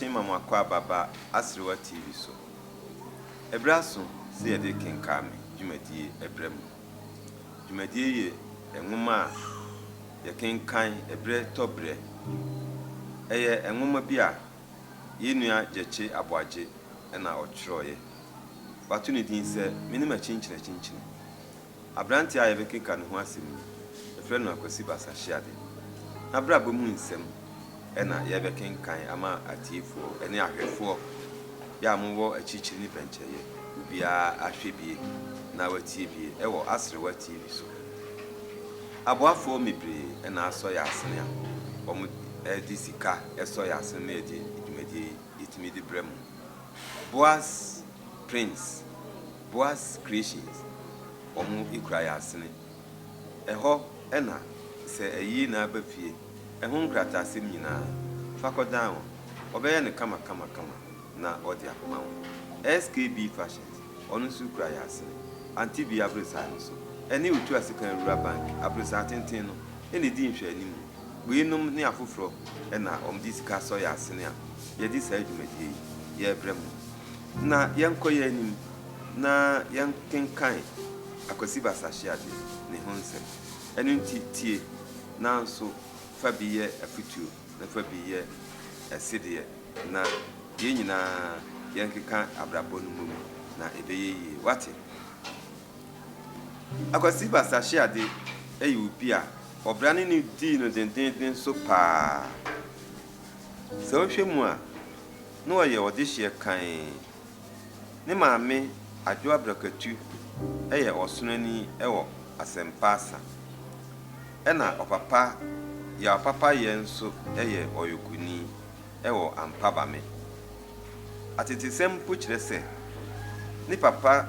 Kye ma mo akɔ ababa Aserewa TV so. Ɛberɛ aso sɛ yɛde kenkaame dwumadie brɛ mo. Dwumadi yi yɛ nwoma a yɛkenkan berɛ tɔ berɛ. Ɛyɛ nwoma bi a yɛn nua Gyekye Aboagye na ɔtwerɛeɛ. Wato ne din sɛ Me ne M'akyinkyini Akyinkyini. Aberanteɛ a yɛbɛkenka ne ho asɛm yi, yɛfrɛ no Akwasi Basahyeade. N'abrabɔ mu nsɛm. na yɛrebɛkenkan ama atiefoɔ ne ahwɛfoɔ, yɛ a mowɔ akyirikyiri ne pɛnkyɛeɛ, obiara ahwɛ bie na watie bie wɔ Aserewa TV so. Aboafoɔ mebree na asɔ yɛn asene a wɔde sika sɔ yɛn asene ma yɛde dwumadie yi yɛtumi de brɛ mo. Boaz Prints, Boaz Creations, wɔkura yɛn asene. Ɛhɔ na sɛ ayi na aba fie, ɛho nkrataasɛm nyinaa, fa kɔdan hɔ, wɔbɛyɛ no kama kama kama na wɔde akɔma wo. SKB Fashions, ɔno nso kura yɛn asene. Ante bi aborosan no so, ɛne Otuasekan Rural Bank aborosan tenten no na ɛdi nhwɛanimu. Weinom ne afoforɔ na wɔde sika sɔ yɛn asene a yɛde saa dwumadie yi yɛrebrɛ mo. Na yɛnkɔ yɛn anim na yɛnkenkan. Akwasi Basahwease ne ho nsɛm. Ɛno nti tie, nanso fa bi yɛ afotuo na fa bi yɛ ɛsedeɛ na yɛn nyinaa yɛnkeka abrabɔ no mmom na ɛbɛyɛ yie. Woate? Akwasi Basahwease yɛ obi a ɔbra ne no dii no dendennden so paa. Sɛ wohwɛ mu a, na ɔyɛ ɔdehyeɛ kann. Ne maame Adwo Abrakatu yɛ ɔsonani wɔ Asɛmpa Asa. Ɛna ɔpapa Yaw Papayɛ nso yɛ ɔyɔkoni wɔ Ampabame. Atetesɛm mpo kyerɛ sɛ ne papa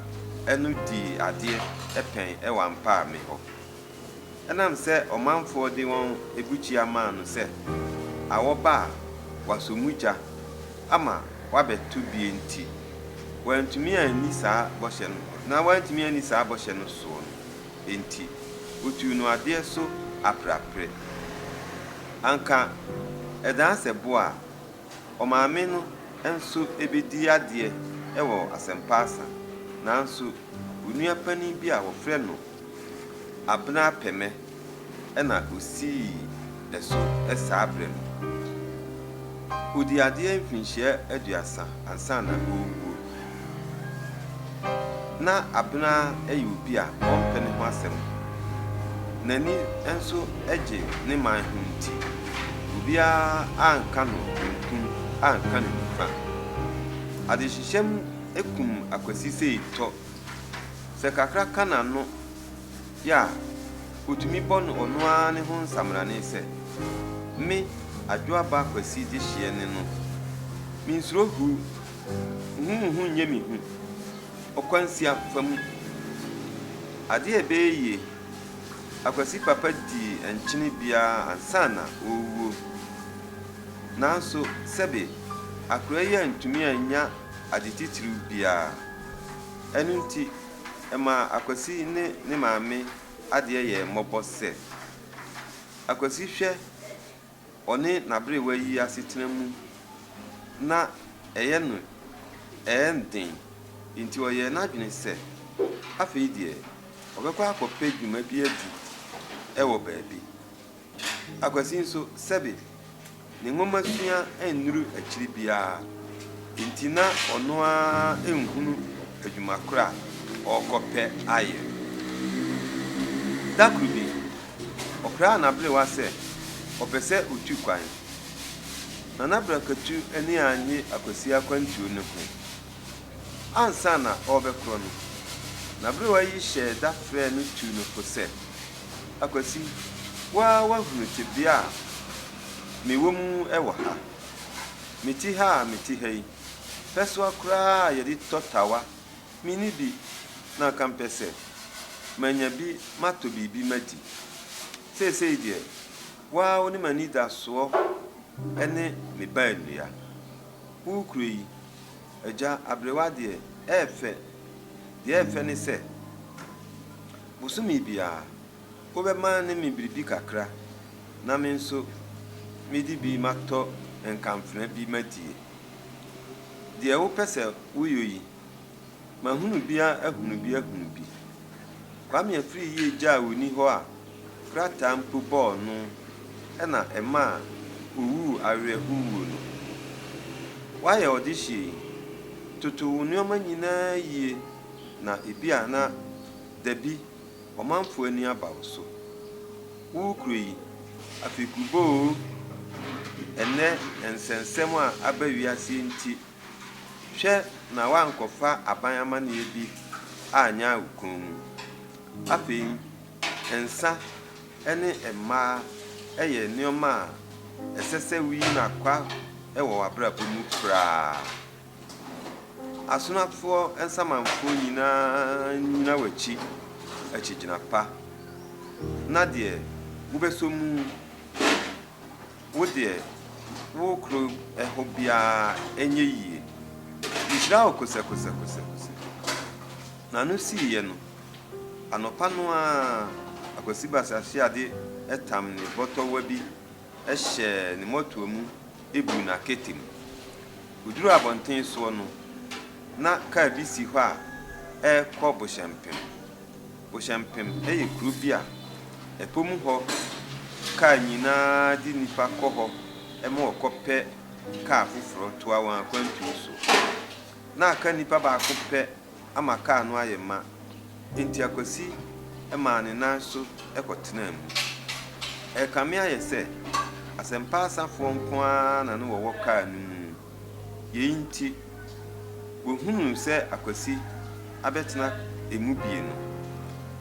no dii adeɛ pɛn wɔ Ampame hɔ. Ɛnam sɛ ɔmanfoɔ de wɔn abukyia maa no sɛ awɔ ba a wɔasɔ mu gya ama wabɛto bie nti, wantumi anni saa bɔhyɛ no, na wantumi anni saa bɔhyɛ no soɔ no nti, wɔtuu no adeɛ so apereapereɛ. Anka ɛdaa sɛ bo a, ɔmaame no nso bɛdii adeɛ wɔ Asɛmpa Asa, nanso onua panin bi a wɔfrɛ no. Abena pɛ me na osii ɛso saa berɛ no. Ɔdii adeɛ mfinhyia aduasa ansa na ɔrewuo. Na Abena yɛ obi a ɔmpɛ ne ho asɛm. N'ani nso gye ne man ho nti, obiara anka no benkum anka no nifa. Adehyehyɛm kum Akwasi Seitɔ Sɛ kakra ka n'ano yɛ a, otumi bɔ no ɔno ara ne ho nsamanane sɛ, Me, Adwoa ba Kwasi Gyehyeɛ ne no. Mensuro huu, nhu mo ho nyɛ me hu, ɔkwansia fa mu. Adeɛ a ɛbɛyɛ yie, Akwasi papa dii nkyene biara ansa na ɔrewuo. Nanso, sɛbe, akora yi antumi annya ade titiriw biara. Ɛno nti, ɛmaa Akwasi ne ne maame adeɛ yɛɛ mmɔbɔ sɛ, Akwasi hwɛ ɔne n'aberewa yi asetena mu na ɛyɛ no ɛɛ den nti ɔyɛɛ n'adwene sɛ afei deɛ ɔbɛkɔ akɔpɛ dwuma bi adi wɔ baabi. Akwasi nso, sɛbe ne nwomasua annuru akyiri biara nti, na ɔno ara nhunu adwuma koro a ɔrekɔpɛ ayɛ. Da koro bi, ɔkraa n'aberewa sɛ ɔpɛ sɛ otu kwan. Nana Brakatu ani annye Akwasi akwantuo no ho. ansa na ɔrebɛkorɔ no, n'aberewa yi hyɛɛ da frɛɛ no tuu no fo sɛ, Akwasi, wo ara woahunu tebea a mewɔ mu wɔ ha. Mete ha a mete ha yi, pɛsoa koraa a yɛde tɔ tawa, minni bi na anka mepɛ sɛ manya bi matɔ biribi madi. Seesei deɛ, wo ara wo ne m'anidasoɔ ne me baanua. Wo kuro yi, Agya Abrewa deɛ ɛyɛ fɛ. Deɛ ɛyɛ fɛ ne sɛ, bosome biara wobɛma ne me biribi kakra na me nso mede bi matɔ nkamfena bi madie. Deɛ wopɛ sɛ woyɔ yi. Mahunu bi a ahunu bi ahunu bi. Kwame Afriyie gyaa woni hɔ a krataa mpo bɔɔ no na ɛmaa owuu awerɛhow wuo no. Woayɛ ɔdehyeɛ yi? Toto wo nnoɔma nyinaa yie na ebia na dabi ɔmanfoɔ ani aba wo so. Wo kuro yi, afekubɔ oo, ɛnnɛ nsɛnsɛm a aba wiase nti Hwɛ na woankɔfa aban amanneɛ bi anyɛ wo kɔn mu. Afei, nsã ne mmaa yɛ nneɛma a ɛsɛ sɛ wuyi no akwa wɔ w'abrabɔ mu koraa. Asomafoɔ nsamanfoɔ nyinaa nnyina w'akyi akyigyina pa, na deɛ wobɛsɔ mu. Wo deɛ wo kuro hɔ biara ɛnyɛ yie. Nhyira wo kosɛkosɛkosɛkosɛ. N'ano siiɛ no, anɔpa no ara Akwasi Basasiade tam ne bɔtɔwa bi hyɛɛ ne mɔtoa mu buu no aketem. Wɔduruu abɔnten soɔ no, na kaa bi si hɔ a ɛrekɔ Bohyɛmpem. Bohyɛmpem yɛ kuro bi a ɛpo mu hɔ kaa nyinaa de nnipa kɔ hɔ ma wɔkɔpɛ kaa foforɔ toa wɔn akwantu so. Na aka nnipa baako pɛ ama kaa no ayɛ ma, enti Akwasi maa ne nan so kɔtenaa mu. Ɛrekame ayɛ sɛ asɛmpa asafoɔ nko ara na na wɔwɔ kaa no mu. Yei nti, wɔhunuu sɛ Akwasi abɛtena emu bie no,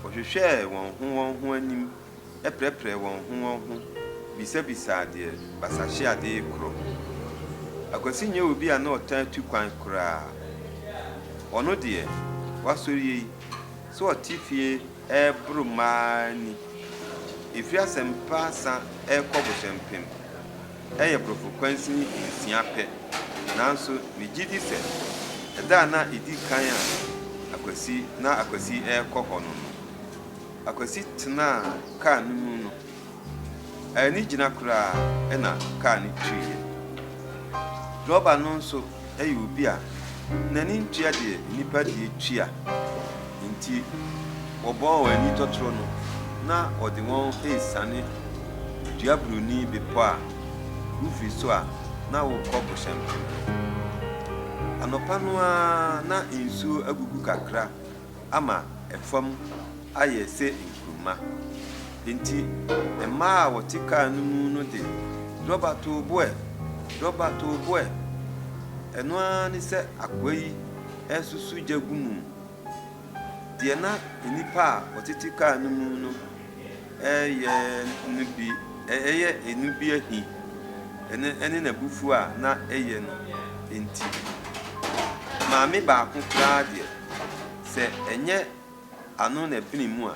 wɔhwehwɛɛ wɔn ho wɔn ho anim prɛprɛɛ wɔn ho wɔn ho bisabisaa deɛ basahyeadee korɔ. Akwasi nyɛ obi a na ɔtaa tu kwan koraa. Ɔno deɛ, wasɔre yei, sɛ ɔte fie reboro mmaa ni. Ɛfiri asɛmpa sa rekɔ bohyɛmpem. Ɛyɛ borɔfo kwansini nsia pɛ, nanso migye di sɛ ɛda a na edi kan a Akwasi na Akwasi rekɔ hɔ no no, Akwasi tenaa kar no mu no, anni gyina koraa na kar no twiiɛ. Drɔba no nso. yɛ obi a n'ani ntua deɛ nnipa deɛ tua nti wɔbɔɔ wɔn ani tɔtorɔ no na ɔde wɔn resiane duaburoni bepɔ a wofiri so a na wokɔ Bohyɛmpem no. Anɔpa no ara na nsuo agugu kakra ama fam ayɛ sɛ nkruma. Enti mmaa a wɔte kar no mu no de dɔba too bo ɛ, dɔba too bo ɛ. Ɛno ara ne sɛ akoa yi resusu gya gu mu. Deɛ na nnipa a wɔtete kar no mu no Ɛyɛ no bi, ɛyɛ ɛno bi ahi, ɛne, ɛne n'abufuo a na ɛyɛ no nti. Maame baako koraa deɛ, sɛ ɛnyɛ ano na ɛbene mu a,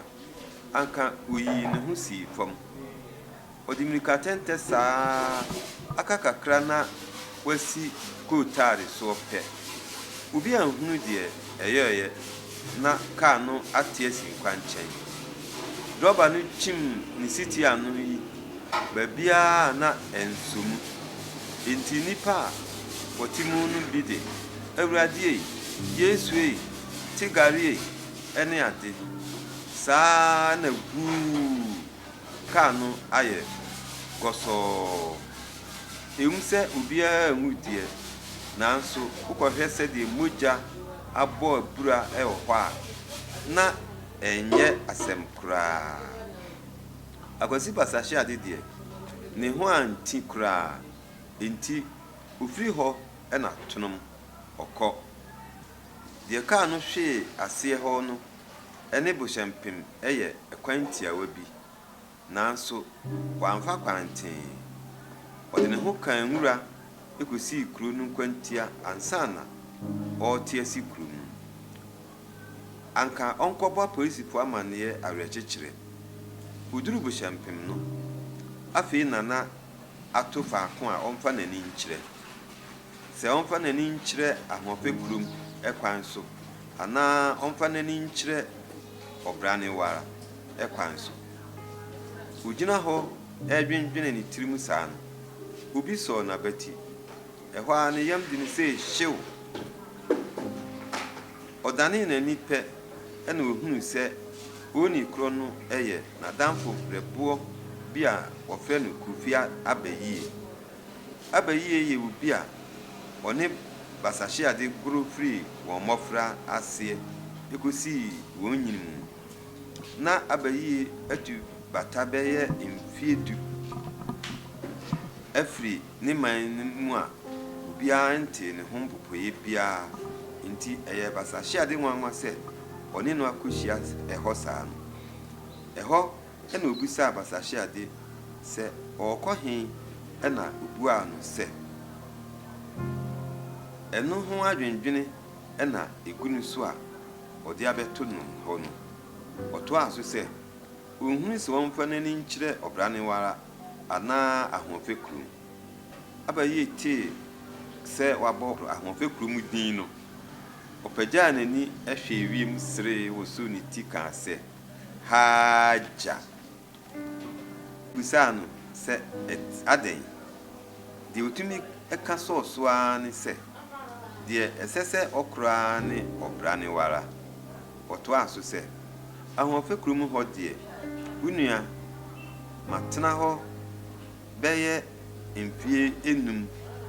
anka ɔyii ne ho sii fam. Ɔde mmirikatɛntɛ saa ara, aka kakra na wasi kootaale soɔ pɛ. Obi anhunu deɛ ɛyɔeɛ na kaa no ate asi nkwankyɛn. Drɔba no kyim ne setie ano yi baabiara a na ɛnsɔ mu. Enti nnipa a wɔte mu no bi de, Awurade ei! Yesu ei! Te gari ei! ne ade saa na guu Kar no ayɛ gɔsɔɔ. Ɛwom sɛ obiara anwu deɛ, nanso wokɔhwɛ sɛdeɛ mogya abɔ abura wɔ hɔ a, na ɛnyɛ asɛm koraa. Akwasi Basahya de deɛ, ne ho anti koraa, enti ɔfiri hɔ na tonom ɔkɔ. Deɛ kar no hwee aseɛ hɔ no ne bohyɛmpem yɛ kwan tiawa bi, nanso wamfa kwan tee. Ɔde ne ho kaa nwura kosii kurow no nkwantia ansa na ɔrete asi kurow mu. Anka ɔnkɔbɔ apolisifo amanneɛ awerɛkyekyerɛ. Woduu bohyɛmpem no, afei na na ato faako a ɔmfa n'ani nkyerɛ. sɛ ɔmfa n'ani nkyerɛ ahoɔfɛ kurom kwan so anaa ɔmfa n'ani nkyerɛ ɔbra no ara kwan so. Ogyina hɔ redwendwene ne tirim saa no, obi sɔɔ n'abati. Ɛhɔ ara ne yam de no sei hyew! Ɔdanee n'ani pɛ na ohunuu sɛ ooni korɔ no yɛ n'adamfo berɛboɔ bi a wɔfrɛ no Koffi Abayie. Aba yiye yɛ obi a ɔne basahyeade goro firi wɔn mmɔfra aseɛ kɔsii wɔn nyini mu. Ná aba yiye atu bata bɛyɛ mfeɛ du afiri ne man no mu a obiara ntee ne ho mpopoeɛ biara, enti ɛyɛ basahyeade nwanwa sɛ ɔne no akɔhyia hɔ saa no. Ɛhɔ Ɛnna obisaa abasahyɛade sɛ, Ɔrekɔ he? Ɛnna obuaa no sɛ, Ɛno ho adwendwene na egu no so a ɔde abɛto no hɔ no. Ɔtoaa so sɛ, Onhunu sɛ ɔmfa n'ani nkyerɛ ɔbra no ara anaa ahoɔfɛ kurom. Aber a Yee tee sɛ wɔabɔ ahoɔfɛ kurom din no, ɔpagyaa n'ani hwɛɛ wiem seree wosow ne ti kaa sɛ, Hajar bisaa no sɛ, Adɛn? Deɛ ɔtumi ka sɔɔ so ara ne sɛ, Deɛ ɛsɛ sɛ ɔkora ara ne ɔbra no ara. Ɔtoaa so sɛ, Ahoɔfɛ kurom hɔ deɛ, wo nua, matena hɔ bɛyɛ mfeɛ nnum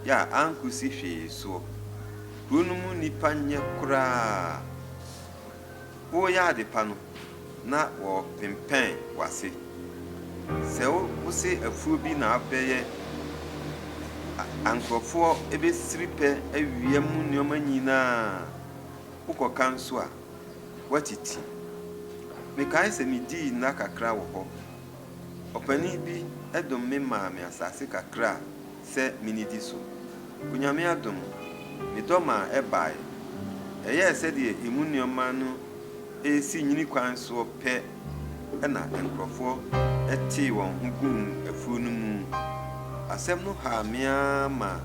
a ankɔsi hwee soɔ. Kuro no mu nnipa nyɛ koraa. woreyɛ ade pa no, na wɔpempɛn w'ase. Sɛ wose afuo bi na abɛyɛ a, nkurɔfoɔ bɛsiri pɛ awia mu nneɛma nyina ara. Wokɔka nso a, woatiti. Mekae sɛ medii nna kakra wɔ hɔ. Ɔpanin bi dom me maa me asase kakra a. sɛ minnidi so. Onyame adom, medɔ maa ɛbae. Ɛyɛɛ sɛdeɛ emu nnoɔma no resi nyini kwan soɔ pɛ na nkurɔfoɔ tee wɔn ho guu afuo no mu. Asɛm no haa me ara maa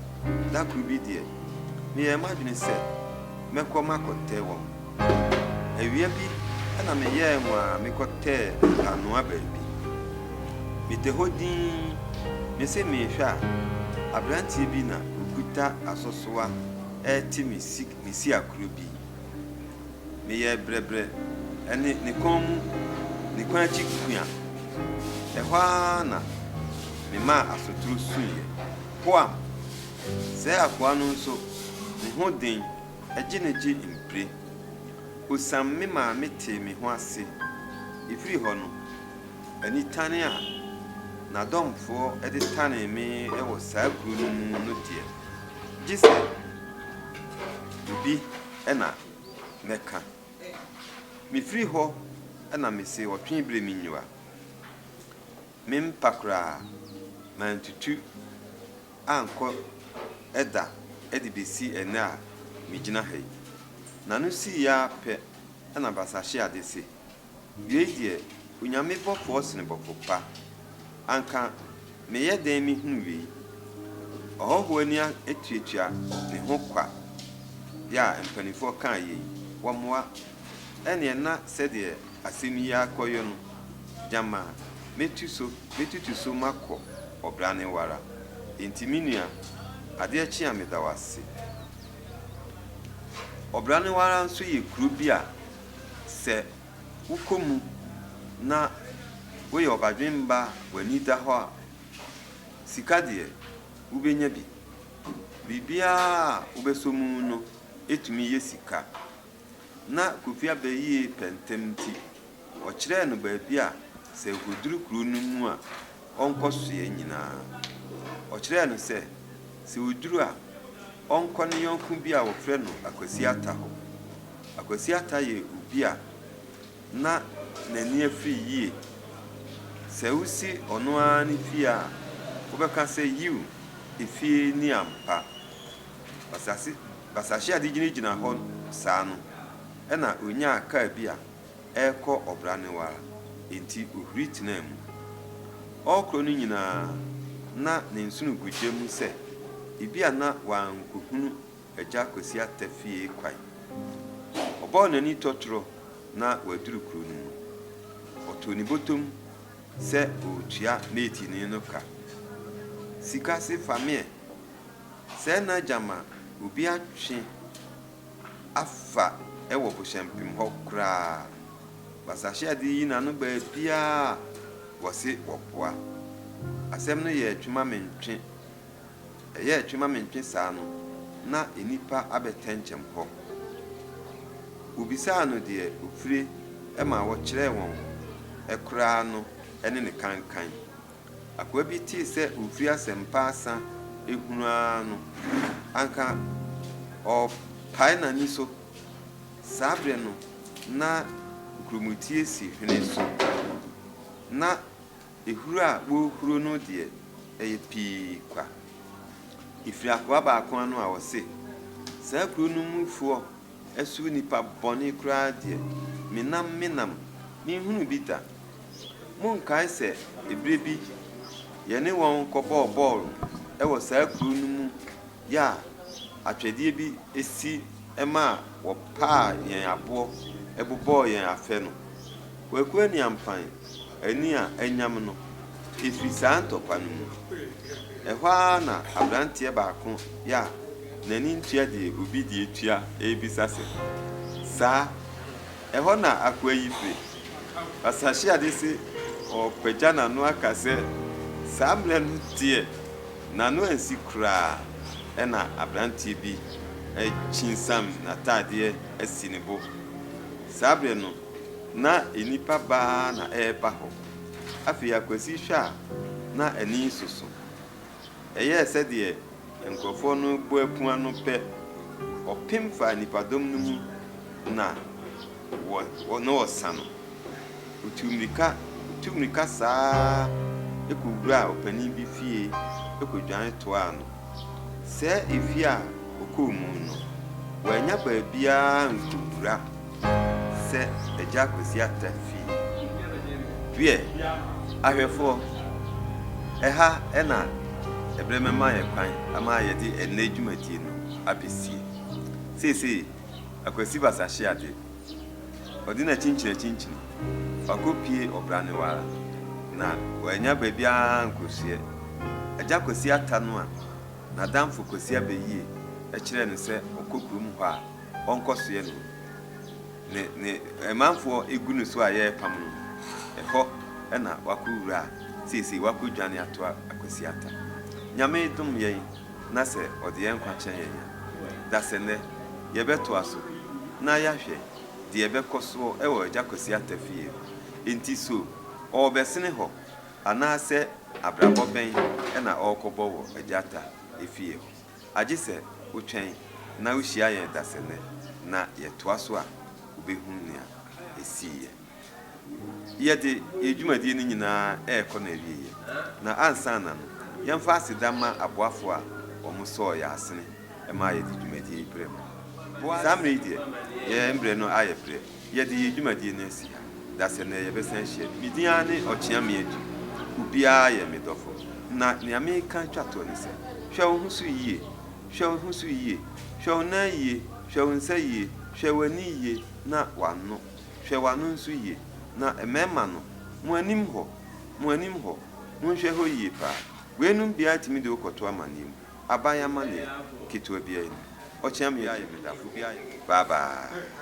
da koro bi deɛ, meyɛɛ m'adwene sɛ mɛkɔ makɔtɛ wɔn. Awia bi na meyɛɛ hu a mekɔtɛɛ mpaanoa baabi. Mete hɔ dinn, mese merehwɛ a, aberanteɛ bi na ɔkuta asosoa rete me si me siakuro bi. Meyɛɛ brɛbrɛ ne ne kɔn mu, ne kɔn akyi kua. Ɛhɔ ara na memaa asotoro suiɛ. Poam! Sɛɛ akoa no nso, ne ho den. Agye na gye mpire. Osiam me maame tee me ho ase. Efiri hɔ no, anitane a n'adɔmfoɔ de tanee me wɔ saa kuro no mu no deɛ, gye sɛ biribi na mɛka. Mefiri hɔ na mese ɔtwee bere me nyiwa. Mempa koraa, mantutu ankɔ da de besi ɛnnɛ a migyina ha yi. N'ano sii ara pɛ na Basahyeade se, Wei deɛ, Onyame bɔfoɔ sene bɔfo pa. Anka meyɛ dɛn mehunu wei? Ɔhɔhoɔ ani atuatua ne ho kwa. Bere a mpanimfoɔ kaa yei, wɔmmoa. Ɛnneɛ na sɛdeɛ asɛm yi akɔyɔ no, gyama metu so, metutu so makɔ ɔbra ne wara. Enti me nua, adeɛ kye a meda wo ase. Ɔbra ne wara nso yɛ kuro bi a sɛ wokɔ mu na woyɛ ɔbadwemba a w'ani da hɔ a, sika deɛ wobɛnya bi. Biribiara a wobɛsɔ mu no tumi yɛ sika. Ná Kofi abɛ yie pɛ ntɛm nti, wɔkyerɛɛ no baabi a sɛ ɔkɔduru kuro no mu a, ɔnkɔsoɛ nyinaa. Ɔkyerɛɛ no sɛ, sɛ ɔduru a, ɔnkɔ ne yɔnko bi a wɔfrɛ no Akwasi Ata hɔ. Akwasi Ata yɛ obi a na n'ani afiri yie. Sɛ wosi ɔno ara ne fie a, wobɛka sɛ, Yiw, efie ni ampa. Ɔsase Basahyɛ a ɛde gyinagyina hɔ saa no, ɛnna onyaa kar bi a ɛrekɔ ɔbra ne wo ara, enti ohuri tenaa mu. Ɔrekorɔ no nyinaa, na ne nsono gu gya mu sɛ ebia na wankohunu Agya Kwasi Atta fie kwan. Ɔbɔɔ n'ani tɔtorɔ na waduru kurow no mu. Ɔtoo ne bɔtɔm sɛ ɔretua meetinee no ka. Sika se fameɛ! Sɛ na gyama obi atwe afa wɔ bohyɛmpem hɔ koraa. Basahyeade yi n'ano baabiaa wɔse wɔboa. Asɛm no yɛɛ twe ma me ntwe. Ɛyɛɛ twe ma me ntwe saa no na nnipa abɛtɛnkyɛm hɔ. Wobisaa no deɛ ofire ma wɔkyerɛɛ wɔn koraa no ne ne kankan. Akoa bi tee sɛ ofi asɛmpa asa ehunu ara no, anka ɔpae n'ani so. Saa bere no, na nkurumutie si hwene so. Ná ehuru a wɔrehuru no deɛ, ɛyɛ pii kwa. Efiri akoa baako ano a ɔse, Saa kuro no mufoɔ Ɛso nnipa bɔne koraa deɛ, menam menam, menhunuu bi da. Monkae sɛ ɛberɛ bi yɛne wɔn kɔbɔɔ bɔɔl wɔ saa kuro no mu yɛ a atwɛdeɛ bi si maa wɔpaa yɛn aboɔ bobɔɔ yɛn afɛ no? Kwaku Aniampany ani a anyam no firi saa ntɔkwa no mu. Ɛhɔ ara na aberanteɛ baako a n'ani ntua deɛ obi de atua rebisa sɛ, Saa? Ɛhɔ na akoa yi firi? Basahyɛade se ɔrepagya n'ano aka sɛ, Saa mmerɛ no deɛ n'ano ansi koraa, ɛnna aberanteɛ bi akyinsam n'atadeɛ asi ne bo. Saa berɛ no, Ná nnipa baa na ɛreba hɔ. Afei Akwasi hwɛ a, na ani soso. Ɛyɛɛ sɛdeɛ nkorɔfoɔ no rebɔ apua no pɛ, ɔpem faa nnipadɔm no mu na wɔ na ɔresa no. Ɔtuu mmirika, ɔtuu mmirika saa ara kɔwuraa ɔpanin bi fie kɔdwane toaa no. Sɛɛ efie a ɔkɔɔ mu no, wannya baabiara nkɔwura Sɛ Agya Kwesi Atta fie. Wiɛ, ahwɛfoɔ, ɛha na ɛberɛ mɛma yɛn kwan ama yɛde ɛnnɛ dwumadie no abɛsie. Seesei, Akwasi Basahye Ade, ɔde n'akyinkyin akyinkyin, ɔakɔpue ɔbra no ara, na wannya baabiara ankɔsuɛ. Agya Kwesi Atta no a n'adamfo Kwesi Abɛyie kyerɛɛ no sɛ ɔkɔ kurom hɔ a, ɔnkɔsoɛ no, ne ne manfoɔ gu no so a yɛrepam no, ɛhɔ na wakɔwura a seesei wakɔdwane atoa Kwasiata. Nyame dom yɛn na sɛ ɔde yɛn nkwa kyɛ yɛn a, dasɛnnɛ yɛbɛtoa so na yɛahwɛ deɛ ɛbɛkɔ soɔ wɔ Agya Kwasiata fie hɔ. Enti so ɔrebɛsene hɔ anaasɛ abrabɔ bɛn na ɔrekɔbɔ wɔ Agyata fie hɔ? Agye sɛ wotwɛn na wuhyia yɛn dasenne na yɛtoa so a wubehu nea esiiɛ. Yɛde yɛn dwumadi no nyinaa rekɔ n'awieeɛ, na ansa na no, yɛmfa aseda mma aboafo a wɔsɔɔ yɛn asene maa yɛde dwumadi yi brɛɛ mo. Saa mmere yi deɛ, yɛn brɛ no ayɛ brɛ. Yɛde yɛn dwumadie no asi ha da sɛ nnɛ yɛbɛsan ahyia bi. Me din ara ne Ɔkyeame Adu. Obiara yɛ me dɔfo. Na nea mereka twa toɔ ne sɛ, hwɛ wo ho so yie, hwɛ wo ho so yie, hwɛ wo nan yie, hwɛ wo nsa yie, hwɛ w'ani yie na w'ano, hwɛ w'ano nso yie. Na mmarima no, mo anim hɔ, mo anim hɔ, monhwɛ hɔ yie paa. Weinom biara tumi de wo kɔto amanneɛ mu. aban amanneɛ ketewa bi ayi no. Ɔkyea me ayɛ me dafo bi ayɛ me. Bye bye.